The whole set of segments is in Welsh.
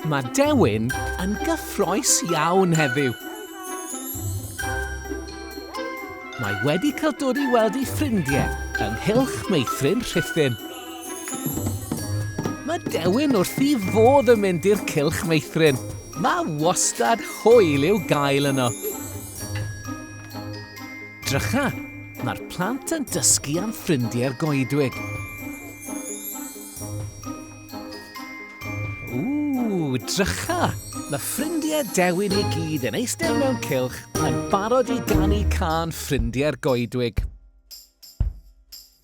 Mae Dewin yn gyffroes iawn heddiw. Mae wedi cael dod i weld ei ffrindiau yng nghylch meithrin Rhuthun. Mae Dewin wrth i fodd yn mynd i'r cylch meithrin. Mae wastad hwyl i'w gael yno. Drycha, mae'r plant yn dysgu am ffrindiau'r goedwig. Ww, drycha! Mae ffrindiau Dewin i gyd yn eistedd mewn cylch yn barod i ganu cân ffrindiau'r goedwig.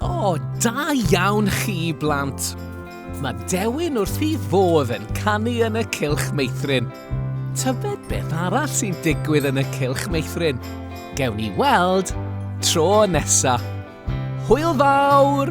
O, da iawn chi, blant! Mae Dewin wrth ei fodd yn canu yn y cylch meithrin. Tybed beth arall sy'n digwydd yn y cylch meithrin? Gewn ni weld tro nesa. Hwyl fawr!